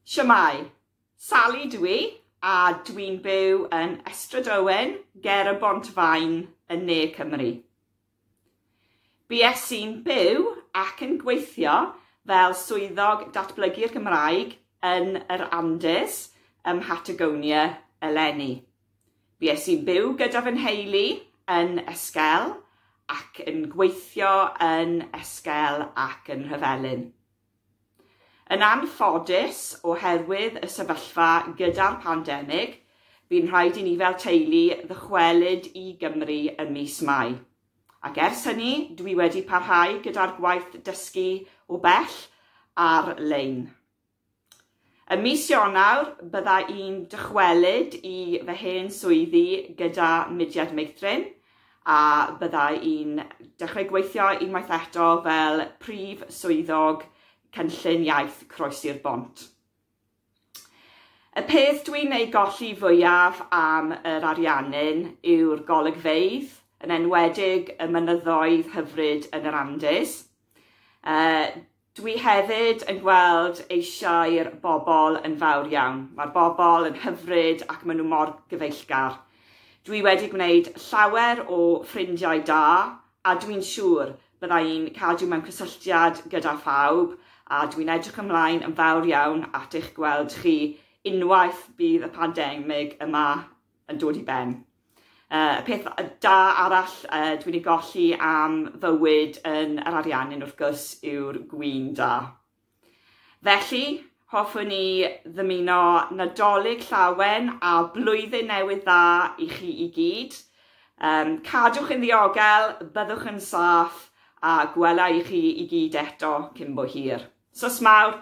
Shwmae, Sally dw i, a dwi'n byw yn Estrad Owen, ger y Bont Fain, yn ne Cymru. Bues i'n byw ac yn gweithio fel swyddog datblygu'r Gymraeg yn yr Andes ym Mhatagonia eleni. Bues i'n byw gyda fy nheulu yn Esquel ac yn gweithio yn Esquel ac yn Rhyfelyn. Yn anffodus, oherwydd y sefyllfa gyda'r pandemig, bu'n rhaid i ni fel teulu ddychwelyd i Gymru ym mis Mai. Ac ers hynny, dwi wedi parhau gyda'r gwaith dysgu o bell ar-lein. Ym mis Ionawr, bydda i'n dychwelyd i fy hen swyddi gyda Mudiad Meithrin a bydda i'n dechrau gweithio unwaith eto fel Prif Swyddog Cynllun Iaith Croesi'r Bont. Y peth dwi'n ei golli fwyaf am yr Ariannin yw'r golygfeydd, yn enwedig y mynyddoedd hyfryd yn yr Andes. Dwi hefyd yn gweld eisiau'r bobl yn fawr iawn. Mae'r bobl yn hyfryd ac maen nhw mor gyfeillgar. Dwi wedi gwneud llawer o ffrindiau da a dwi'n siŵr bydda i'n cadw mewn cysylltiad gyda phawb a dwi'n edrych ymlaen yn fawr iawn at eich gweld chi unwaith bydd y pandemig yma yn dod i ben. Uh, y peth da arall uh, dwi'n ei golli am fywyd yn yr ariannin wrth gwrs yw'r gwyn da. Felly, hoffwn ni ddymuno nadolig llawen a blwyddyn newydd dda i chi i gyd. Um, cadwch yn ddiogel, byddwch yn saff a gwela i chi i gyd eto cyn bo hir. Sos mawr!